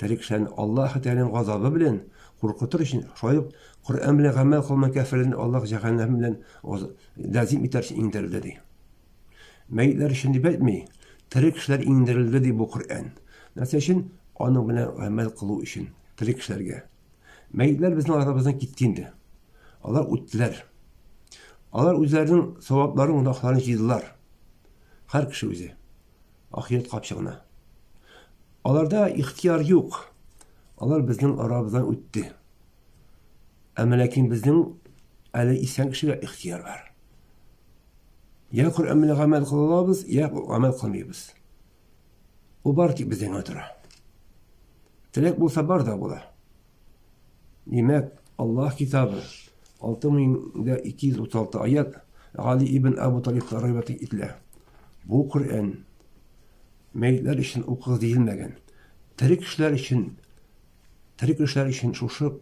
Тәре кешеләрне Аллаһы Тәгаләнең газабы белән куркытыр өчен, шулай ук Коръән белән гамәл кылмаган кәферләрне Аллаһ җәһәннәм белән ләзим итәр өчен иңдерелде ди. Мәйетләр өчен дип әйтми, тере кешеләр иңдерелде ди бу Коръән. Нәрсә өчен? Аның белән гамәл кылу өчен, тере кешеләргә. Мәйетләр безнең арабыздан китте инде. Алар үттеләр. Алар үзләренең савапларын, гөнаһларын җыйдылар. Һәр кеше үзе. Ахирәт капчыгына. Аларда ихтыяр юк. Алар безнең арабыздан үтте. Әмма ләкин безнең әле исән кешегә ихтыяр бар. Я Коръән белән гамәл кылабыз, я гамәл кылмыйбыз. Ул бар тик бездән генә тора. Теләк булса бар да була. Димәк, Аллаһ Китабы, 6236 аят, Гали ибн Абу Талибка риват ителә. Бу Коръән мәйтләр өчен укыгыз диелмәгән. Тере кешеләр өчен тере кешеләр өчен шушы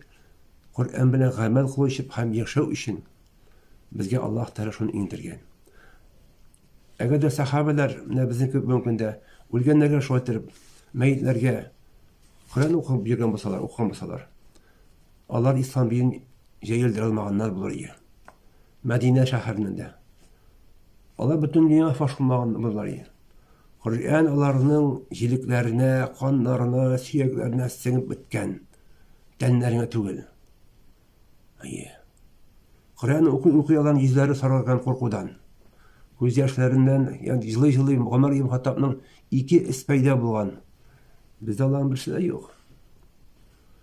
Коръән белән гамәл кылу өчен һәм яшәү өчен Безгә Аллаһ Тәгалә шуны иңдергән. Әгәр дә сахабәләр, менә безнең кебек бүгенге көндә үлгәннәргә шулай итеп, мәйетләргә Коръән укып йөргән булсалар, укыган булсалар, алар ислам динен җәелдерә алмаганнар булыр иде. Мәдинә шәһәрендә. Алар бөтен дөнья фаш булмаган булар иде. Коръән аларның җилекләренә, каннарына, сөякләренә сеңеп беткән. Тәннәренә түгел. Әйе. Коръәнне укый-укый алан йөзләре саргайган куркудан. Күз яшьләреннән, янь җылый-җылый Гомар ибн Хаттабның ике эс пәйда булган. Бездә аларның берсе дә юк.